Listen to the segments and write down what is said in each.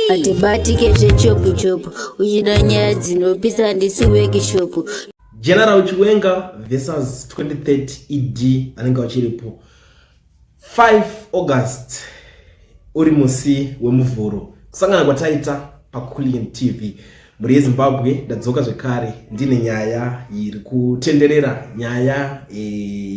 hatibatike zvechopu chopu uchida nyaya dzinopisa handisi wekishopu general chiwenga versus 2030 ed anenge achiripo 5 august uri musi wemuvhuro kusangana kwataita paculin tv mhuri yezimbabwe ndadzoka zvekare ndine nyaya iri kutenderera nyaya e,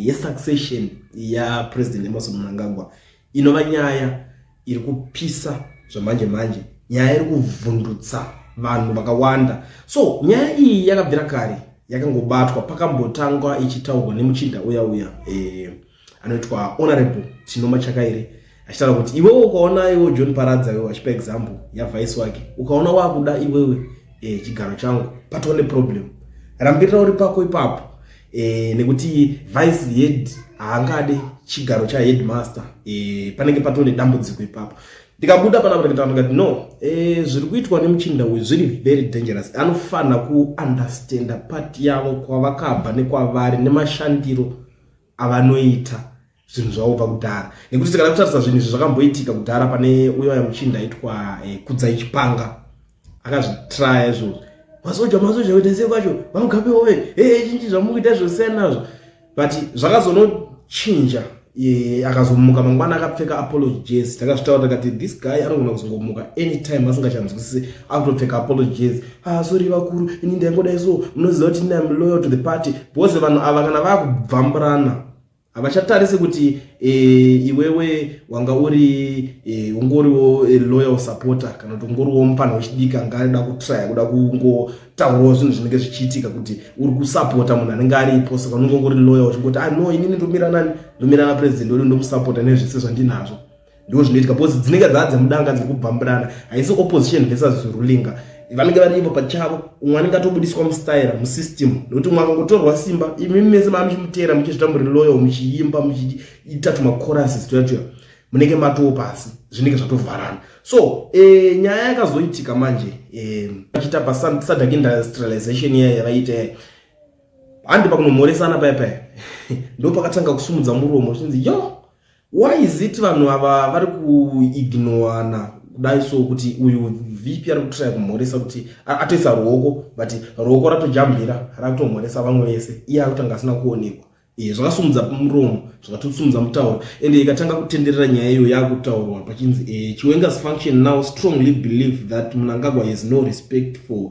yesuccession yapresident emerson mnangagwa Inova nyaya iri kupisa zvamanje manje, nyaya iri kuvhundutsa vanhu vakawanda. So nyaya iyi yakabvira kare yakangobatwa pakambotangwa ichitaurwa nemuchinda uya uya eh, anoitwa honorable Tinoma Chakaire achitaura kuti iwewe ukaona iwe John Paradza iwe achipa example yavice wake ukaona wakuda iwewe eh, chigaro changu patone problem rambirira uri pako ipapo e, nekuti vice head haangade chigaro chaheadmaster e, panenge patone dambudziko ipapo ndikabuda panapatikati no e, zviri kuitwa nemuchinda uyu zviri very dangerous anofanira kuunderstanda pati yavo kwavakabva nekwavari nemashandiro avanoita zvinhu zvavo kubva kudhara nekuti tikada kutarisa zvinhu izvi zvakamboitika kudhara pane uyo aya muchinda aitwa eh, kudzai chipanga akazvitraya izvozvo masoja masoja kuita sei kwacho vamugabe ove ee chinchi zvamukuita zvosiyana nazvo but zvakazonochinja akazomuka mangwana akapfeka apology jezi takazvitaura takati this guy anogona kuzongomuka anytime asingachanzwisise akutopfeka apology jezi ah sorry vakuru ini ndaingodai so munoziva kuti ini am loyal to the party because vanhu ava kana vakubvamburana havachatarise kuti e, iwewe wanga uri e, ungoriwo e, loyal supporter kana kuti ungoriwo mupfanha wechidiki anga aida kutraya kuda kungotaurawo zvinhu zvinenge zvichiitika kuti uri kusapota munhu anenge aripo saka unenge ungori loyal uchingoti ano ah, inini ndomira nani ndomira napresident wedu ndomusapota nezvese zvandinazvo ndizvo zvinoitika because dzinenge dzava dzemudanga dziri kubvambirana haisi opposition versus rulinga vanenge vari ivo pachavo umwe anenge atobudiswa mustaira musystem nokuti umwe akangotorwa simba imi mese maa muchimuteera muchizvita muri loyal muchiimba muchiita tumacorases tuya tuya munenge matowo pasi zvinenge zvatovharana so e, nyaya yakazoitika manje eh, achiita e, pasadak industrialization iya yavaiita yaya handi pakunomhoresana paya paya ndopakatanga kusumudza muromo zvichinzi yoo Why is it vanhu ava vari kuignowana kudai so kuti uyu vp ari kutraya kumhoresa kuti atoisa ruoko but ruoko ratojambira rakutomhoresa vamwe vese iye akutanga asina kuonekwa eh, zvakasumudza muromo zvakatosumudza mutauro ende ikatanga kutenderera nyaya iyo yakutaurwa pachinzi eh, chiwenga's function now strongly believe that munangagwa has no respect for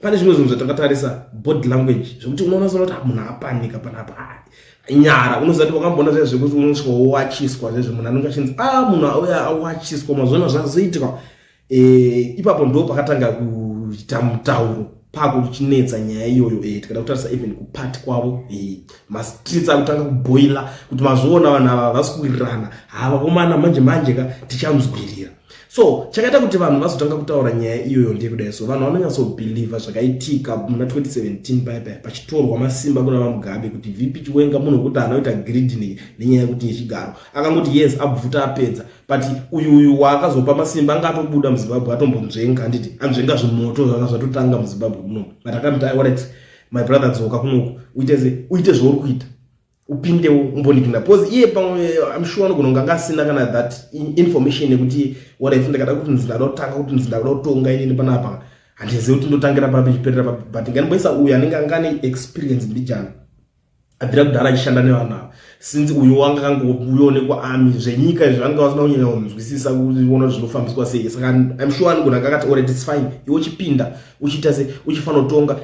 pane zvimwe zvinhu zvatakatarisa body language zvekuti unoona sona kuti ah, munhu apanika panapa ah, nyara unoziva kuti wakamboona zviya zvekuti unosvika wowachiswa zvezve munhu anenge achinzi a ah, munhu auya awachiswa mazona zvazoitika eh, ipapo ndo pakatanga kuita mutauro pakuchinetsa nyaya iyoyo eh, tikada kutarisa even kupati kwavo mastreets akutanga kuboila kuti mazviona vanhu ava havasi kuwirirana havakomana manje manje ka tichamzwirira so chakaita kuti vanhu vazotanga kutaura nyaya iyoyo ndeyekudai so vanhu vanonyatsobhilivha zvakaitika muna 2017 paipai pachitorwa masimba kuna vamugabe kuti vp chiwenga munhu wekuti anoita gridini nenyaya yekuti yechigaro akangoti yes abvuta apedza but uyu uyu waakazopa masimba anga atobuda muzimbabwe atombonzvenga handiti anzvenga zvimoto zvanga zvatotanga muzimbabwe muno but akamita iwaret my brother dzoka kunoku uite zvauri kuita upindewo umbonigina because iye pamwe eh, I'm sure anogona kunge anga asina kana that information yekuti what I think ndakada kuti ndinzi ndakada kutanga kuti ndinzi ndakada kutonga inini panapa handizivi kuti ndotangira papi chiperera papi but nganimboisa uyu anenge anga ane experience mbijana abvira kudhara achishanda nevanhu ava since uyo wanga kangouyonekwa ami zvenyika izvi vanga vasina kunyanya kunzwisisa kuona kuti zvinofambiswa sei saka I'm sure anogona kakati already it's fine iwo chipinda uchiita se uchifanotonga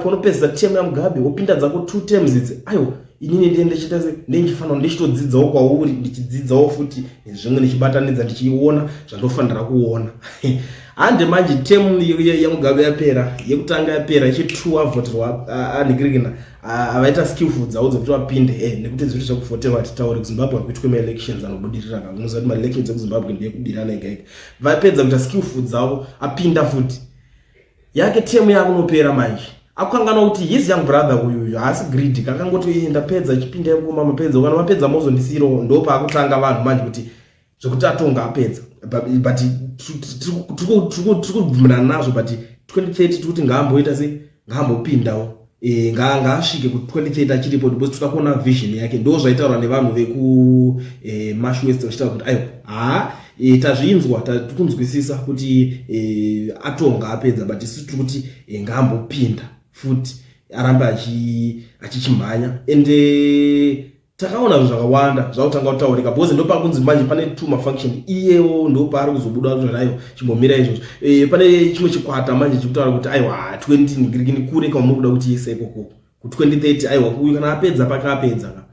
paunopedzisa temu yamugabe wopinda dzako two tems idzi aiwa inini ndiye ndichiita se ndendifanira ndichitodzidzawo kwauri ndichidzidzawo futi nezvimwe ndichibatanidza ndichiona zvandofanira kuona hande manje temu yamugabe yapera yekutanga yapera ichitwo avoterwa anhikirikina avaita skillful dzavo dzekuti vapinde e eh, nekuti zviri zvekufoteva hatitauri kuzimbabwe hakuitwe maelections anobudirira kakunoziva kuti maelections ekuzimbabwe ndeyekudirana ega ega vapedza kuita skill food dzavo apinda futi yake temu yakunopera manje akukanganwa kuti his young brother uyuyu haasi greedy kakangoti iye ndapedza chipinda yekuma mapedza kana mapedza mozondisiirawo ndo paakutanga vanhu manje kuti zvekuti atonga apedza but tiri kubvumirana nazvo but 2030 tikuti ngaamboita sei ngaambopindawo e, ngaasvike nga kuti 2030 achiripo because toda kuona vision yake ndo zvaitaurwa nevanhu veku e, mash west vachitaura kuti aiwa haa e, tazvinzwa tatikunzwisisa kuti e, atonga apedza but isu tiri kuti e, ngaambopinda futi arambe achichimhanya ende takaona zvinhu zvakawanda zvakutanga kutaurika because ndopakunzi manje pane two mafunction iyewo ndopaari kuzobuda zvanayo chimbomira izvozvo e, pane chimwe chikwata manje chikutaura kuti aiwa 20 kure kamuri kuda kuti yese ikoko ku 2030 aiwa uyu kana apedza paka apedza ka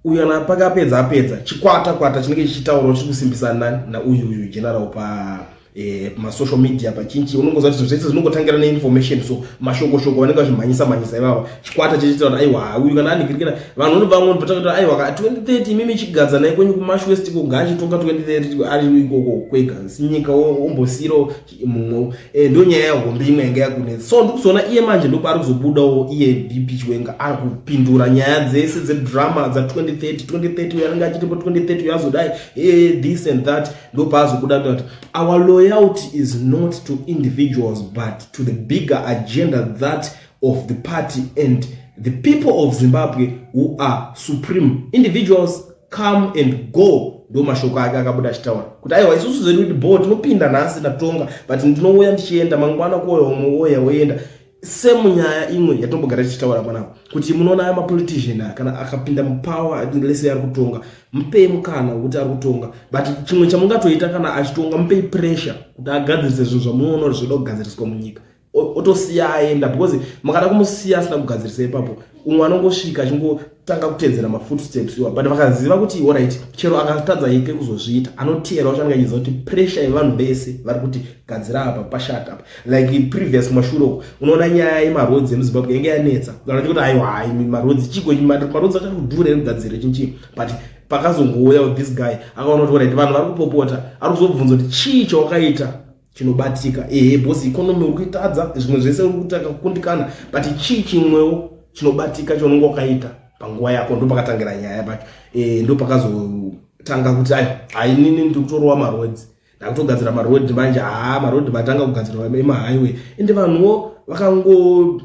uyu kana paka apedza apedza chikwata kwata chinenge chichitaurawo chikusimbisa nani nauyu uyu general pa eh, masocial media pachinchi unongoziva kuti zvese zvinongotangira neinformation so mashoko shoko vanenge vachimhanyisa mhanyisa ivavo chikwata chechiita kuti aiwa uyu kana anigirikira vanhu uri vamwe ndipota kuti aiwa ka 2030 imimi chigadza naye kwenyu kumash west ko ngaachitonga 2030 ari ikoko kwega sinyika ombosiro mumwe eh, ndo nyaya yahombe imwe yanga yakune so ndikuzoona iye manje ndopa ari kuzobudawo iye bp chiwenga ari kupindura nyaya dzese dzedrama dza 2030 2030 uyo anenge achitipo 2030 uyo azodai e eh, this and that ndopaazobuda kuti our loyalty is not to individuals but to the bigger agenda that of the party and the people of zimbabwe who are supreme individuals come and go ndo mashoko ake akabuda achitaura kuti aiwa isusu zvedu kuti bo tinopinda nhasi tatonga but ndinouya ndichienda mangwana kuoya umwe oya woenda same nyaya imwe yatinombogara tichitaura mwana kuti munoona aya mapolitician aya kana akapinda mupower lese ari kutonga mupei mukana wekuti ari kutonga but chimwe chamungatoita kana achitonga mupei pressure kuti agadzirise zvinhu zvamunoona kuti zvoda kugadziriswa munyika otosiya aenda because mukada kumusiya asina kugadzirisa ipapo umwe anongosvika achingotanga kutedzera mafootsteps iwa but vakaziva kuti orit chero akatadza yeke kuzozviita anoteera uchange achiziva kuti pressure yevanhu vese vari kuti gadzira apa pashat apa like previous mashure uko unoona nyaya yemarodzi emuzimbabwe yenge yanetsa anoti kuti aiwa hai marodzi chiko marodzi achati kudhura ere kugadzira chinchii but pakazongouya this guy akaona kuti orit vanhu vari kupopota ari kuzobvunza kuti chii chawakaita chinobatika ehe bos economy uri kuitadza zvimwe zvese uri kutanga kukundikana but chii chimwewo chinobatika chaunenge wakaita panguva yako ndopakatangira nyaya pacho e, ndopakazotanga kuti ayo hainini ndiri kutorowa marodzi ndakutogadzira marodhi manje haa marodhi matanga kugadzirwa emahighway ende vanhuwo vakango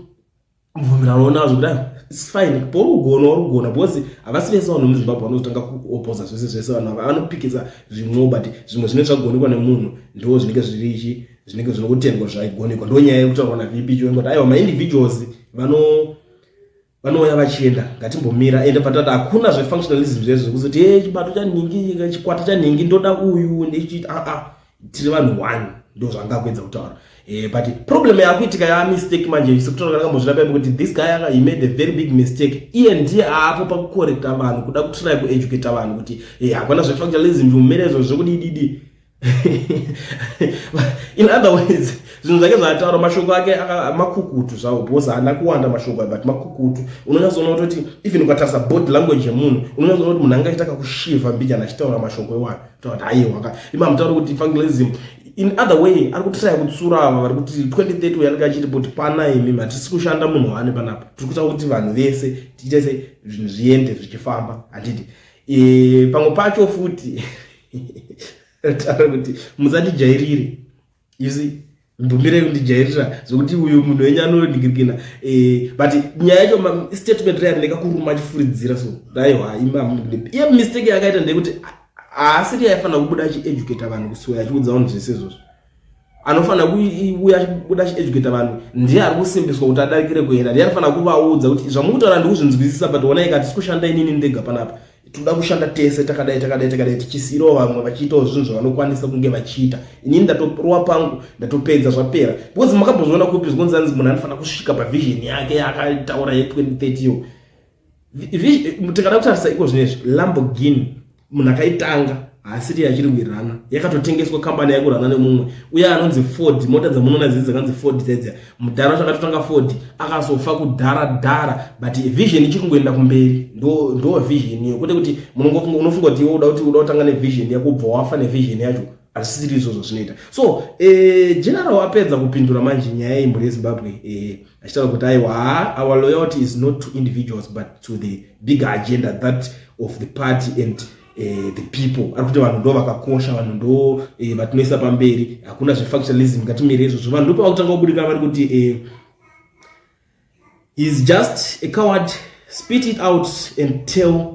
mvumirano nazvo kudai its fine porugona warugona because havasi vese vanhu muzimbabwe vanotanga kuopoza zvese zvese vanhu ava vanopikisa zvimwewo but zvimwe zvinenge zvagonekwa nemunhu ndiwo zvinenge zvirichi zvinenge zvinokutengwa zvaigonekwa ndo nyaya yekutaurwa navp chionga kuti aiwa maindividuals vano vanouya vachienda ngatimbomira ende patata hakuna zvefunctionalism zvezvo zvekuzoti e chibato chanhingi chikwata chanhingi ndoda uyu ndechiita aa ah, ah. tiri vanhu one ndozvanga kuedza kutaura eh, but problem yakuitika ya mistake manje sekutaura kana kambozvira pepe kuti this guy aka he made a very big mistake iye ndiye aapo pakukorekta vanhu kuda kutry kueducate vanhu kuti eh, hakuna zvefactualism zvimumere izvo zvekuti ididi in other words zvinhu zvake zvaataura mashoko ake makukutu zvawo bcause haana kuwanda mashoko but makukutu unonyatsoona kutoti even ukatarisa body language yemunhu unonyatsoona kuti munhu angaita kakushiva mbijana achitaura mashoko iwayo toti aiwa ka ima mutaura kuti evangelism in other way ari kutiraya kutsura ava vari kuti 2030 uyo anenge achiti kuti pana imi matisi kushanda munhu waane panapa tiri kuita kuti vanhu vese tiite se zvinhu zviende zvichifamba handiti e, pamwe pacho futi taura kuti musatijairire you see ndumire kundijairira zvekuti uyu munhu wenyu anoningirikina eh, but nyaya yacho statement reyari ndakakuruma achifuridzira so aiwa iye mistake yakaita ndeyekuti haasiri yaifanira kubuda achieducata vanhu kusuwa achiudza vanhu zvese izvozvo anofanira kuuya achibuda achieducata vanhu ndiye ari kusimbiswa kuti adarikire kuenda ndiye anofanira kuvaudza kuti zvamukutaura ndikuzvinzwisisa but onai katisi kushanda inini ndega panapa tinoda kushanda tese takadai takadai takadai tichisiirawo vamwe vachiitawo zvinhu zvavanokwanisa kunge vachiita inini ndatorowa pangu ndatopedza zvapera because makambozviona kupi zvikonzi anzi munhu anofanira kusvika pavision yake yaakataura ye2030 yo tikada kutarisa iko zvino izvi lamborghini munhu akaitanga haasiri yachiri kuirana yakatotengeswa kambani yakurana nemumwe uye anonzi ford mota dzamunoona dzidzi dzakanzi ford dzaidzia mudhara wacho akatotanga ford akazofa kudhara dhara but vision ichiri kungoenda kumberi ndo ndo vision iyo kwete kuti unofunga kuti iwe uda kuti uda kutanga nevision yako ubva wafa nevision yacho hazvisiri izvozvo zvinoita so eh, general apedza kupindura manje nyaya yemhuri yezimbabwe eh, achitaura kuti aiwa our loyalty is not to individuals but to the bigger agenda that of the party and eh, the people ari kuti vanhu ndo vakakosha vanhu ndo eh, vatinoisa pamberi hakuna zvefactionalism ngatimire izvozvo vanhu ndopavakutanga kubudikana vari kuti eh, is just a coward spit it out and tell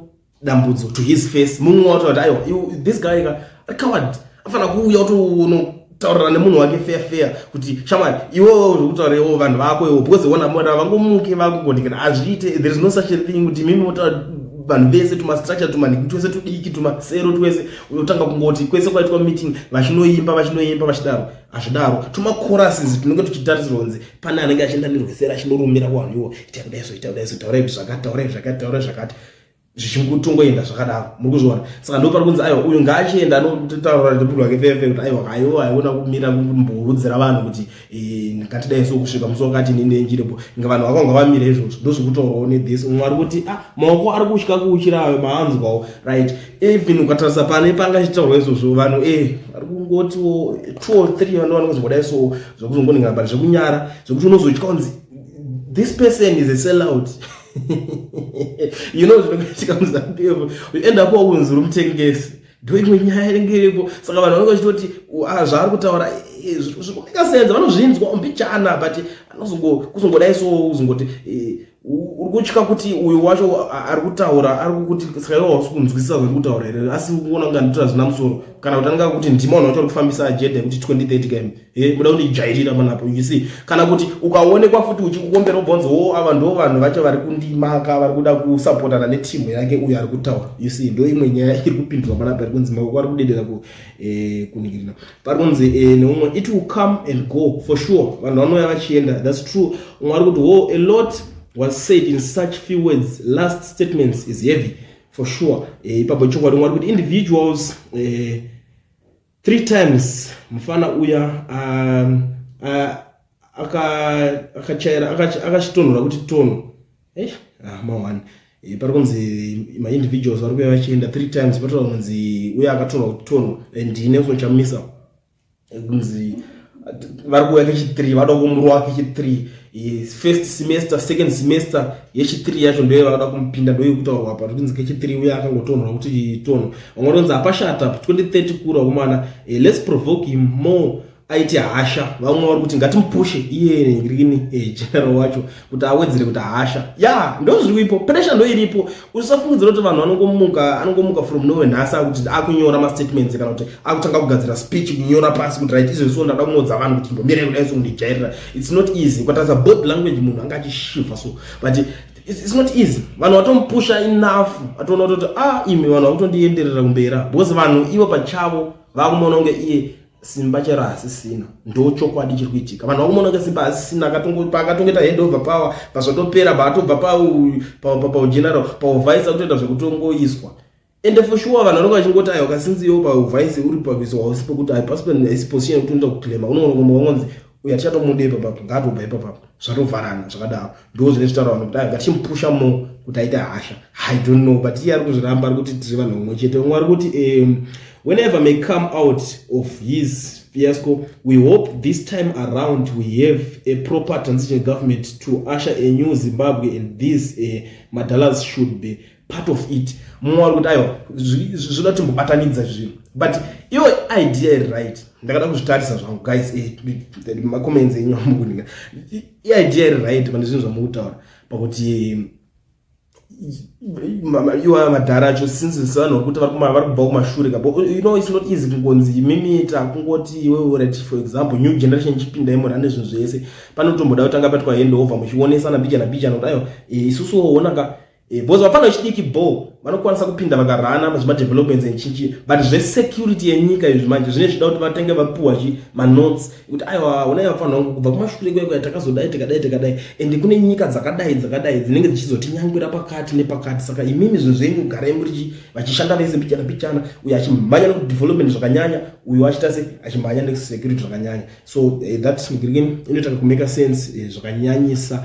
dambudzo to his face mumwe watoati aiwa this guy ka ari coward afanira kuuya utoona taurira nemunhu wake feya feya kuti shamwari iwewo uri kutaura iwo vanhu vako iwo because wona mona vangomuke vakugondekera hazviite there is no such a thing kuti mimi motaura vanhu vese tumastructure tumaniki twese tudiki tumasero twese unotanga kungoti kwese kwaitwa meeting vachinoimba vachinoimba vachidaro hazvidaro tumacorases tunenge tuchitarisirwa kunzi pane anenge achienda nerwesera achinorumira kuvanhu iwo itaudaiso itaudaiso taurai zvakati taurai zvakati taurai zvakati zvichikutongoenda zvakadaro muri kuzviona saka ndopari kunzi aiwa uyu ngaachienda anotaura nebulu wake fefe kuti aiwa aiwa aiona kumira kumborudzira vanhu kuti eh, ngatidai so kusvika musi wakati ninenjirepo inga vanhu vakanga vamira izvozvo ndozvikutorwawo nethis umwe ari kuti ah maoko ari kutya kuuchira ayo maanzwawo right even ukatarisa pane panga chitaurwa izvozvo vanhu e eh, ari kungotiwo two or three vanhu vanokuzi kudai so zvekuzongoningana bari zvekunyara zvekuti unozotya kunzi this person is a sellout you know zvinokaitika muzantu evo uenda po unzi uri mutengesi ndoimwe nyaya inenge iripo saka vanhu vanenge vachitoti ah, zvaari kutaura eh, zvikumika senza vanozvinzwa mbichana but anozongodai so uzongoti eh, uri kutya kuti uyo wacho ari kutaura ari kukuti saka iwo hausi kunzwisisa zviri kutaura here asi uona kunga nditoa zvina musoro kana kuti anenge akuti ndima unhu wacho ari kufambisa ajeda yekuti 2030 km Eh, muda kundijairira manapo you see kana kuti ukaonekwa futi uchikukombera ubvonzo wo oh, ava ndo vanhu vacho vari kundimaka vari kuda kusapotana netimu yake uyo ari kutaura you see ndo imwe nyaya iri kupindurwa manapo ari kunzi maoko ari kudedera ku eh, kuningirina pari kunzi eh, neumwe it will come and go for sure vanhu vanouya vachienda thats true umwe ari kuti wo oh, a lot was said in such few words last statements is heavy for sure eh, ipapo chokwadi umwe ari kuti individuals eh, three times mufana uya um, akachaira akachitonhora kuti tono eh, ah, maone eh, pari kunzi maindividuals vari kuya vachienda three times patoa kunzi uya akatonhora kuti tono and ine kuchamisa kunzi vari kuuya kechithree vanoda kumurova kechithree first semester second semester yechithree yacho ndoye vanoda kumupinda ndoye kutaurwa apa totinzi kechithree uye akangotonhora kuti tonho vamwe tonzi hapashata 2030 kura kumana eh, lets provoke him more aite hasha vamwe vari kuti ngatimupushe iye rini eh, general wacho kuti awedzere kuti hasha ya ndozviripo pressure ndoiripo usafungidzira kuti vanhu anongomuka anongomuka from nowhere nhasi akuti akunyora mastatements kana kuti akutanga kugadzira speech kunyora pasi kuti right izvo so ndada kunodza vanhu kuti ndomirai kudai so kundijairira it's not easy ukatadza body language munhu anga achishiva so but it's not easy vanhu vatomupusha enough atoona kutoti ah imi vanhu vakutondienderera kumbera because vanhu ivo pachavo vakumaona kunge iye simba chero hasisina ndo chokwadi chiri kuitika vanhu vakumonoka simba hasisina paakatongeta hand over power pazvatopera paatobva paugeneral pauvhaisa kutoita zvekutongoiswa ende for sure vanhu vanonga vachingoti ayo kasinzi yo pauvhaisi uri pakuiswa hausi pekuti haipasi haisi position yekuti unoita kuclaima unongonokomba wangonzi uye hatichatomude ipapapo ngaatobva ipapapo zvatovharana zvakadaro ndo zvine zvitaura vanhu kuti ngatichimupusha mo kuti aite hasha i don't know but iye ari kuzviramba ari kuti tiri vanhu vamwe chete vamwe ari kuti um, whenever may come out of his fiasco we hope this time around we have a proper transition government to usher a new zimbabwe and this uh, madalas should be part of it mumwe wari kuti aiwa zvoda timbobatanidza zvinhu but iyo idea iri right ndakada kuzvitarisa zvangu guys eh, macomments enyu amukuninga iidea iri right pane zvinhu zvamukutaura pakuti iwa madhara acho since sevanhu vekuti vari kubva kumashure kabo you know it's not easy kungonzi imimiita kungoti iwewe rati for example new generation ichipinda imora nezvinhu zvese panotomboda kutanga patwa hand over muchionesana bijana bijana kuti ayo eh, isusu woonaka Eh, because vapfana vechidiki bo vanokwanisa kupinda vakarana pazvimadevelopments enchinchi but zvesecurity yenyika izvi manje zvine zvida kuti vatenge vapiwa chi manotes kuti aiwa unai vapfana vangu kubva kumashure kwekuya takazodai tikadai tikadai ende kune nyika dzakadai dzakadai dzinenge dzichizotinyangwira pakati nepakati saka imimi zvinhu zvenyu garai muri vachishanda vese mbichana mbichana uyo achimhanya nekudevelopment zvakanyanya uyo achita se achimhanya nekusecurity zvakanyanya so eh, that inoita kumeka sense eh, zvakanyanyisa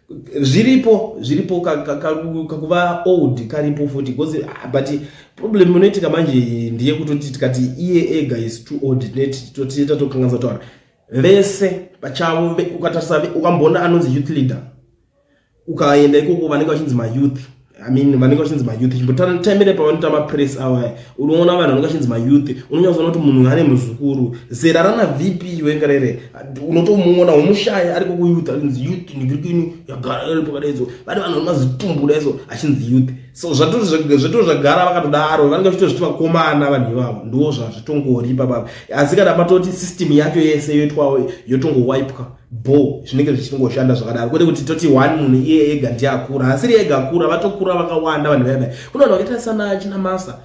zviripo zviripo kakuva old karipo futi because ah, but problem inoitika manje ndiye kutoti tikati iye ega is too old totiita tokanganisa taura vese pachavo ukatarisa ukamboona anonzi youth leader ukaenda ikoko vanenge vachinzi mayouth I mean vanenge vachinzi mayouth chimbotaimire pavanoita mapress awaya unoona vanhu vanenge vachinzi mayouth unonyatsoona kuti munhu ane muzukuru zera rana vp wengerere unotomuona womushaya ariko kuyouth achinzi youth nigirikini yagara pakadaidzo vane vanhu vanomazitumbu daiso achinzi youth so zvatoo zvagara vakatodaro vanenge vachitozviti vakomana vanhu ivavo ndiwo zvazvitongori ipapapa asi kana patoti system yacho yese yoitwawo yotongowipwa bho zvinenge zvichingoshanda zvakadaro kwete kuti toti one munhu iye ega ndiye akura hasiri ega akura vatokura vakawanda vanhu vaya vaya kune vanhu vakaita sana china masa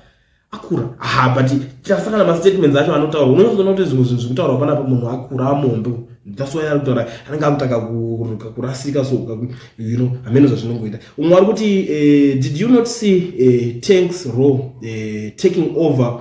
akura ha but tasakana mastatements acho anotaura unoona kuti zvimwe zvinhu zvekutaura panapa munhu akura amombe ndaswaya ari kutaura anenge akutaka kurasika so you know hameno zvazvinongoita umwe ari kuti eh, did you not see eh, tanks row eh, taking over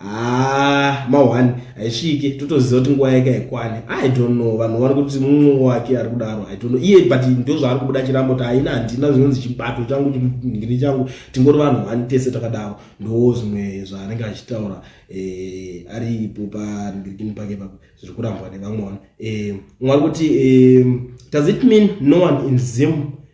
Ah, ma one haisvike totoziva kuti nguva yake haikwane i don't know vanhu vari kuti mumwe wake ari kudaro i don't know iye but ndo zvaari kubuda chirambo kuti haina handina zvinonzi chibato changu chingiri changu tingori vanhu one tese takadaro ndo zvimwe zvaanenge achitaura eh, ari ipo pandikini pake papa zviri kurambwa nevamwe vanu eh, mwari kuti eh, does it mean no one in zim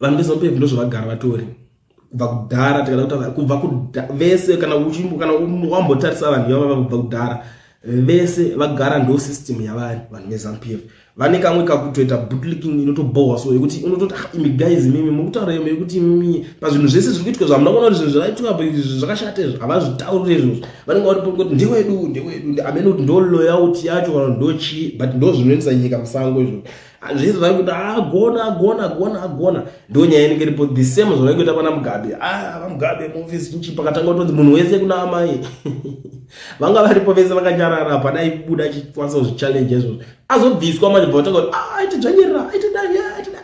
vanhu veZanu PF ndozvavagara vatori kubva kudhara tikada kutaura kubva vese kana uchimbo kana wambotarisa vanhu ivava kubva kudhara vese vagara ndo system yavari vanhu veZanu PF vane kamwe kakutoita bootlicking inotobohwa so yekuti unototi ah, imi guys mimi mukutaura yemo yekuti imimi pazvinhu zvese zviri kuitwa zvamuna kuona kuti zvinhu zvakaitwa apo izvi zvakashata izvi havazvitaurire izvozvo vanenge vari pokoti ndewedu ndewedu amene kuti ndo loyalty yacho kana ndo chii but ndo zvinoendesa nyika musango izvozvo Hazvisi vari kuti agona ah, agona agona agona ndo nyaya inenge iripo the same zvavai kuita pana mugabe a ah, vamugabe muofisi chinchi pakatanga kutonzi munhu wese kuna amai vanga varipo vese vakanyarara hapana aibuda achikwanisa kuzvichallenge izvozvo azobviswa manje bva vatanga kuti a ah, aite dzvanyerera aite dai aite dai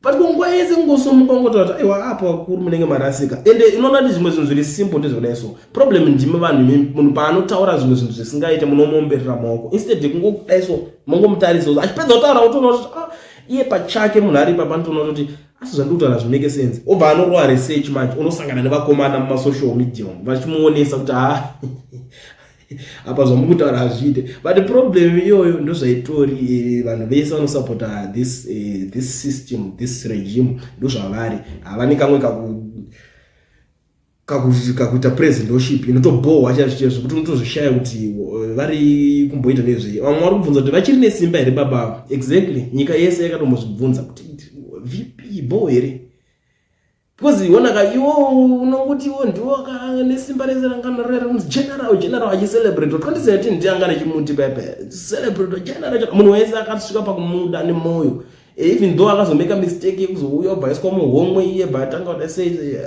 but kunguva yese kungosomuka kungotaura kuti aiwa apa vakuru munenge marasika ende unoona ndi zvimwe zvinhu zviri simple ndezvakadai so problem ndimi vanhu munhu paanotaura zvimwe zvinhu zvisingaite munomuomberera maoko instead kungokudai so mongomutarisa kuti achipedza kutaura kutoona kuti ah, iye pachake munhu ari ipa panotoona kuti asi zvandiri kutaura zvimake sense obva anorowa research manje unosangana nevakomana mumasocial media umu vachimuonesa kuti ha ah, apa zvamukutaura hazviite but problem iyoyo ndozvaitori eh, vanhu vese vanosupporta this, eh, this system this regime ndozvavari havane kamwe kakuita presidentoship inotobohwa chaizvo chaizvo kuti unotozvishaya kuti eh, vari kumboita nezvei vamwe vari kubvunza kuti vachiri nesimba here baba avo exactly nyika yese yakatombozvibvunza kuti vp bho here because iwona ka iwo unonguti iwo ndiwo nesimba rese rangana rere kunzi general general achicelebrate 2017 ndi angana chimuti pepe celebrate general munhu wese akasvika pakumuda nemoyo eh, even though akazomeka mistake yekuzouya obhaiswa muhomwe iye but atanga kuda sei eh,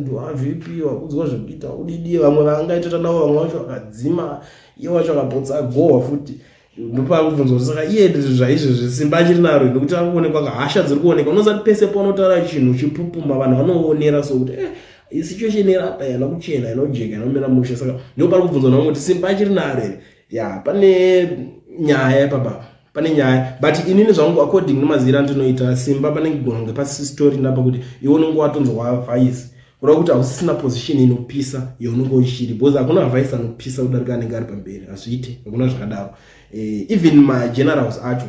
ndwavp wakudzwa zvekuita udidie vamwe vaangaitota navo vamwe vacho vakadzima iye wacho akabotsa agohwa futi ndopakubvunza kuti saka iye zvaizvezvi simba achiri naro nekuti akuonekwa ka hasha dziri kuonekwa unozati pese paunotaura chinhu chipupuma vanhu vanoonera so kuti eh, isituation iri apa yana kuchena inojeka inomira mushe saka ndopari kubvunza navo kuti simba achiri naro here ya pane nyaya ipapa pane nyaya but inini zvangu according nemazira andinoita simba panenge kugona kunge pasisitori napa kuti iwe unenge watonzwa vhaisi kureva kuti hausisina position inopisa yaunenge uchiri because hakuna avise anopisa kudarika anenge ari pamberi hazviite hakuna zvakadaro eh, even magenerals acho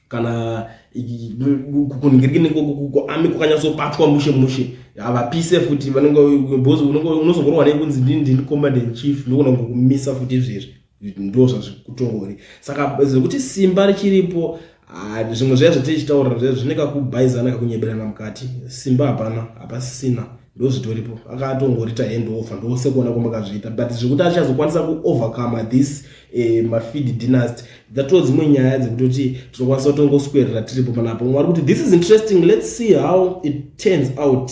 kana kuningiriknekuami kwakanyatsobatwa mushe mushe havapise futi vanenge because unozongorwa nekunzi ndini ndini command and chief ndokona kungokumisa futi izvezvi ndo zvazvikutori saka zvekuti simba richiripo ah, zvimwe zviya zvatichitaura zvine kakubhaizana kakunyeberana mukati simba hapana hapasisina ndo zvitoripo akatongorita hand offer ndose kuona kwamakazviita but zvekuti achazokwanisa kuovercome this eh, mafeed dynasty dzatoo dzimwe nyaya dzekutoti tinokwanisa kutongoswerera tiripo panapo mwari kuti this is interesting let's see how it turns out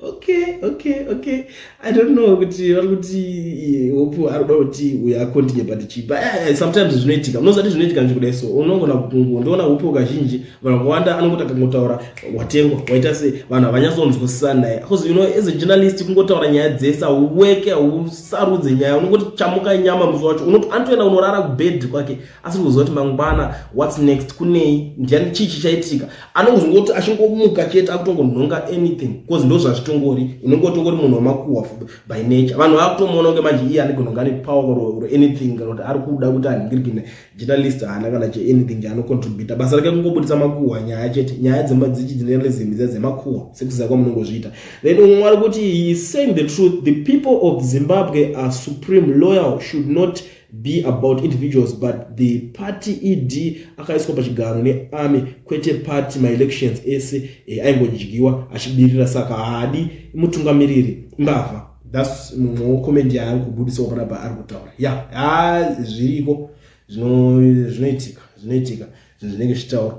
okay okay okay i don't know kuti vari kuti eh, hope ari kuda kuti uyo akondinye but chii but eh, eh, sometimes zvinoitika munozati zvinoitika nje kudai so unongona kukungu ndoona hope kazhinji vanhu vakawanda anongoti akangotaura watengwa waita se vanhu havanyatsonzwisisa naye bcause you know as a journalist kungotaura nyaya dzese hauweke hausarudze nyaya unongoti chamuka nyama musi wacho anotoenda unorara kubed kwake asiri kuziva kuti mangwana whats next kunei ndiani chii chichaitika anongozongoti achingomuka chete akutongonhonga anything bcause ndo zvazvitongori unenge utongori munhu wamakuhwa by nature vanhu vakutomuona kunge manje iye anenge unonga ane power or anything kana kuti ari kuda kuti anhingirikina journalist haana kana che anything chaanocontributa basa rake kungobudisa makuhwa nyaya chete nyaya dzechijournalism dza dzemakuhwa sekuziva kwamunongozviita then umwe ari kuti he saying the truth the people of zimbabwe are supreme loyal should not be about individuals but the party ed akaiswa pachigaro nearmy kwete party maelections ese e, aingodyiwa achibirira saka haadi mutungamiriri mbavha thats mumwe wecomment yaari kubudisawo panapa ari kutaura ya yeah, zviriko zvinoitika zvinoitika zvinhu zvinenge zvichitaura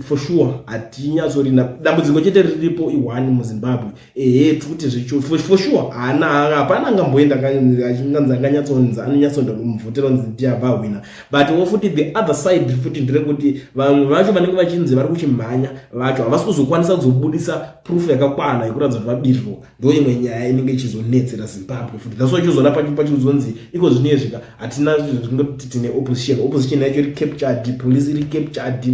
for sure hatinyatsorina dambudziko chete riripo ihwani muzimbabwe ehe tikuti for sure haana hapana angamboenda kanzi anganyatsonzi anonyatsonda kumuvhotera nzi ndiabva hwina but wo futi the other side futi ndirekuti vanhu vacho vanenge vachinzi vari kuchimhanya vacho havasi kuzokwanisa kuzobudisa proof yakakwana yekuratidza kuti vabirirwa ndo imwe nyaya inenge ichizonetsera zimbabwe futi that's why chozona pachizonzi iko zvino yezvika hatina zvingoti tine opposition opposition yacho iri captured police iri captured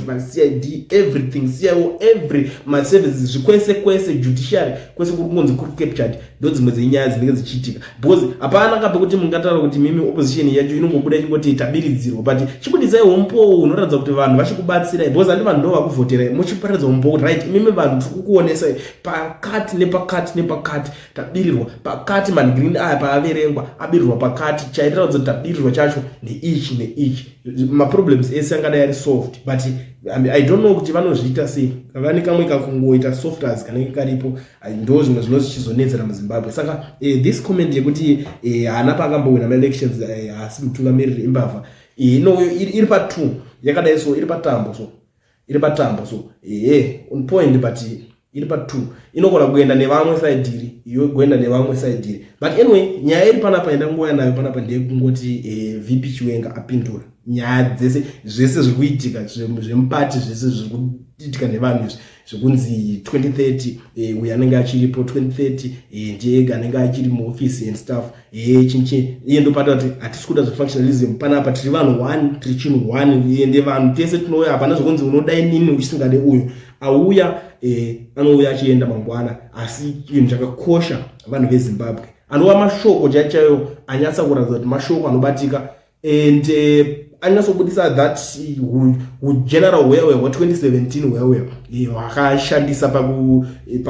macid everything cio every maservices zvikwese kwese judiciary kwese kuri kungonzi kuri captured ndo dzimwe dzenyaya dzinenge dzichiitika because hapana kape kuti mungataura kuti mimi opposition yacho inongobuda ichingoti tabiridzirwa but chibuditsai humpowo hunoratidza kuti vanhu vachikubatsirai because handi vanhu ndo vakuvhoterai muchiparidza humpowo kuti right mimi vanhu tiri kukuonesai pakati nepakati nepakati tabirirwa pakati mangreen aya paaverengwa abirirwa pakati chaitaratidza kuti tabirirwa chacho neichi neichi maproblems ese angadai ari solved but i don't know kuti vanozviita sei vane kamwe kakungoita softers kanenge karipo ndo zvimwe zvino zvichizonetsera muzimbabwe saka eh, this comment yekuti eh, haana eh, paakambowina maelections eh, haasi eh, mutungamiriri imbavha eh, no, iri patwo yakadai so iri patambo so iri patambo so ehe eh, on point but iri patwo inogona kuenda nevamwe side iri iyo kuenda nevamwe side iri but anyway nyaya iri panapa yandangouya nayo panapa ndeyekungoti eh, vp chiwenga apindura nyaya dzese zvese zviri kuitika zvemupati zvese zviri kuitika nevanhu izvi zvekunzi 2030 eh, uyo anenge achiripo 2030 eh, ndiye anenge achiri muofisi and staff eh, chinchi iye ndopata kuti hatisi kuda zvefunctionalism pana apa tiri vanhu one tiri chinhu one iye ndevanhu tese tinouya hapana zvekunzi unoda inini uchisingade uyo auya eh, anouya achienda mangwana asi chinhu chakakosha vanhu vezimbabwe anova mashoko chaichayo anyatsa kuratidza kuti mashoko anobatika and uh, anyasobudisa that hugeneral wewe hwa2017 wewe eh, hwakashandisa eh,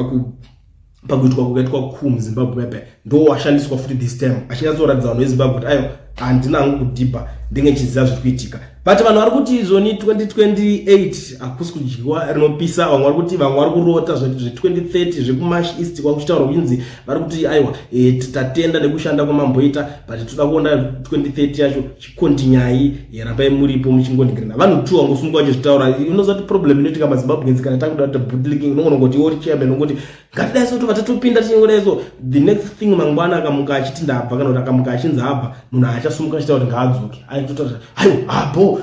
pakuitwa kukaitwa ku muzimbabwe mepe ndo washandiswa futi this time achinyatsoratidza vanhu vezimbabwe kuti ayo handina hangu kudhibha ndenge chiziva zviri kuitika but vanhu vari kuti izvoni 2028 hakusi kudyiwa rinopisa vamwe vari kuti vamwe vari kurota zvekuti zve2030 zvekumash east kwakuchitaura kunzi vari kuti aiwa e, tatenda nekushanda kwamamboita but toda kuona 2030 yacho chikontinyai e, rambai muripo muchingonigirina vanhu two vangosumuka vachizvitaura unoziva kuti problem inoitika mazimbabweans kana takuda kuti bootlicking unogona kuti iwo chairman unongoti ngatidai so tobva tatopinda tichingodai so the next thing mangwana akamuka achiti ndabva kana kuti akamuka achinzi abva munhu haachasumuka achita kuti ngaadzoke aitotaura ayo abo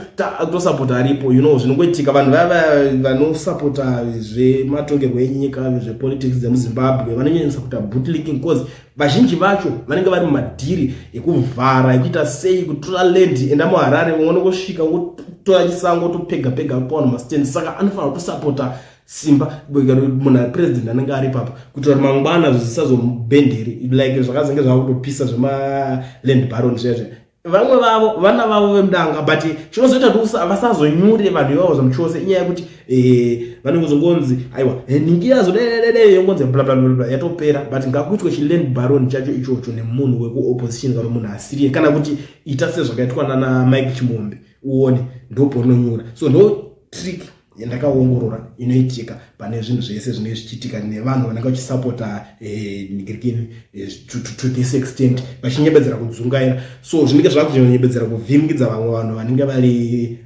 tosapota aripo you know zvinongoitika vanhu vaya vanosapota zvematongerwo enyika zvepolitics dzemuzimbabwe vanonyanyisa kuita bootlicking cause vazhinji vacho vanenge vari mumadhiri ekuvhara ekuita sei kutora land enda muharare vangone kusvika wotora chisango topega pega kupaona mastand saka anofanira kutosapota simba munhu apresident anenge ari papa kuitira kuti mangwana zvisazomubhenderi like zvakazenge zvava kutopisa zvemaland baron zviya zviya vamwe vavo vana vavo vemudanga but chinozoita kuti vasazonyure vanhu ivavo zvamuchose inyaya yekuti eh, vanenge kuzongonzi aiwa eh, ningira zodededede yongonzi blablabla yatopera but ngakuitwe chiland baron chacho ichocho nemunhu wekuopposition kana munhu asiriye kana kuti ita sezvakaitwa nana mike chimombe uone ndopononyura so no trick yandakaongorora inoitika pane zvinhu zvese zvinenge zvichiitika nevanhu vanenge vachisapota eh, nigirikini eh, to this extent vachinyebedzera kudzungaira so zvinenge zvakunyebedzera kuvhimikidza vamwe vanhu vanenge vari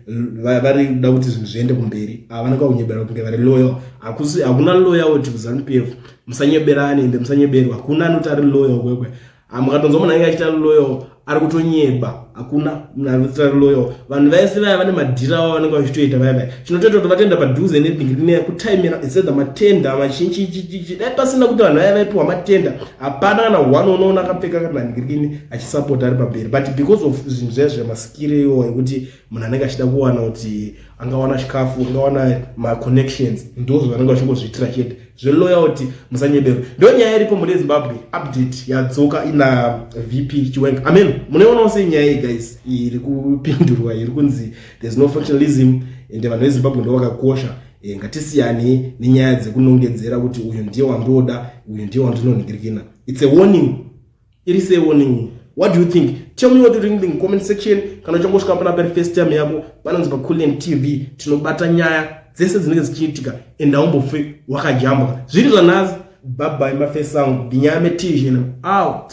vari kuda kuti zvinhu zviende kumberi ava vanenge vakunyebera kunge vari loyal hakuna loyal kuti kuzanu p f musanyeberani ende musanyeberwa hakuna anoti ari loyal kwekwe Ah, mukatonzwa munhu anenge achita loyo ari kutonyeba hakuna munhu ari kuita loyo vanhu vaise vaya vane madhira avo vanenge vachitoita vaya vaya chinotoita kuti vatenda padhuze nedingirine kutaimira isethe matenda machinchichichichi dai pasina kuti vanhu vaya vaipiwa matenda hapana kana one unoona akapfeka kana ndingirine achisapota ari pamberi but because of zvinhu zvaya zvemasikire iwo ekuti munhu anenge achida kuwana kuti angawana chikafu angawana maconnections ndozvo vanenge vachingozviitira chete zveloyalty musanyebero ndo nyaya iripo mune zimbabwe update yadzoka ina vp chiwenga amen munoionawo sei nyaya iyi guys iri kupindurwa iri kunzi there's no functionalism ende vanhu vezimbabwe ndo vakakosha e, ngatisiyane nenyaya dzekunongedzera kuti uyu ndiye wandoda uyu ndiye wandinonhingirikina its a warning iri se warning what do you think tell me what you think in comment section kana uchangosvika pana pari first time yako panonzi pa Kulliant TV tinobata nyaya dzese dzinenge dzichiitika and haumbofe wakajambwa zviri zvanhasi bye bye mafesi angu ndinyaya metizhina out